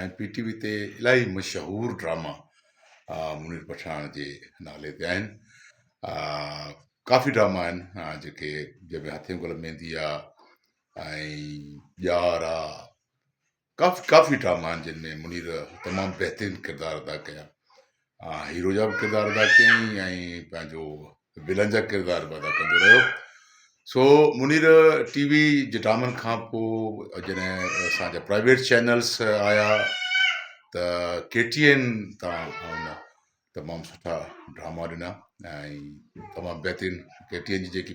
۽ P T V تي الاهي مشهور ڊراما منير پٺاڻ جي نالي تي آهن ڪافي ڊراما آهن جيڪي جنهن ۾ هٿين گل ميندي آ ۽ ڄار آ ڪافي ڪافي ڊراما آهن جن ۾ منير تمام بهترين ڪردار ادا ڪيا هيرو جا به ڪردار ادا ڪيائين ۽ پنهنجو ولن جا ڪردار به ادا ڪندو رهيو سو منير ٽي وي جي ڊرامن کان پوء جڏهن اسان جا پرائيويٽ چينلس آيا ته ڪي ٽي اين تان هن تمام سٺا ڊراما ڏنا ۽ تمام بهترين ڪي ٽي اين جي جيڪي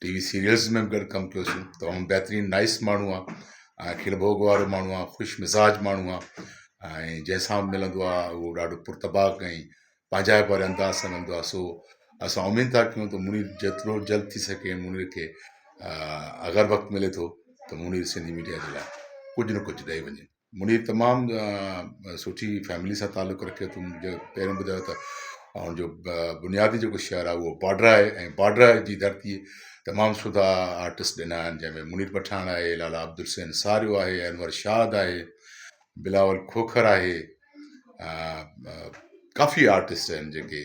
ٽي وي سيريلز ۾ به گڏ ڪم ڪيو سين تمام بهترين نائس ماڻهو آ ۽ کل ڀوڳ وارو ماڻهو آ خوش مزاج ماڻهو آ ۽ جنهن سان به ملندو آ اهو ڏاڍو پر طباق ۽ پنهنجائپ واري انداز سان ملندو آ سو اسان اميد ٿا ڪيون ته منير جيترو جلد ٿي سگهي منير کي اگر وقت ملي ٿو ته منير سنڌي ميڊيا جي لاء ڪجهه نه ڪجهه ڏئي وڃي منهنجي تمام سٺي فيملي سان تعلق رکي ٿو جيڪو پهريون ٻڌايو ته ان جو بنيادي جيڪو شعر آهي اهو بارڊر آهي ۽ بارڊر جي ڌرتي تمام سودا آرٽسٽ ڏنا آهن جنهن ۾ منير پٺاڻ آهي لالا عبدالحسين ساريو آهي انور شاد آهي بلاول کوکر آهي ڪافي آرٽسٽ آهن جيڪي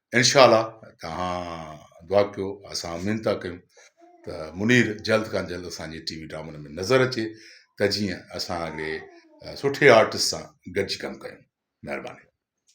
انشاء الله توهان دعا ڪيو اسان امين ٿا ڪيون ته منير جلد کان جلد اسان جي ٽي وي ڊرامن ۾ نظر اچي ته جيئن اسان اهڙي سٺي آرٽسٽ سان گڏجي ڪم ڪيون مهرباني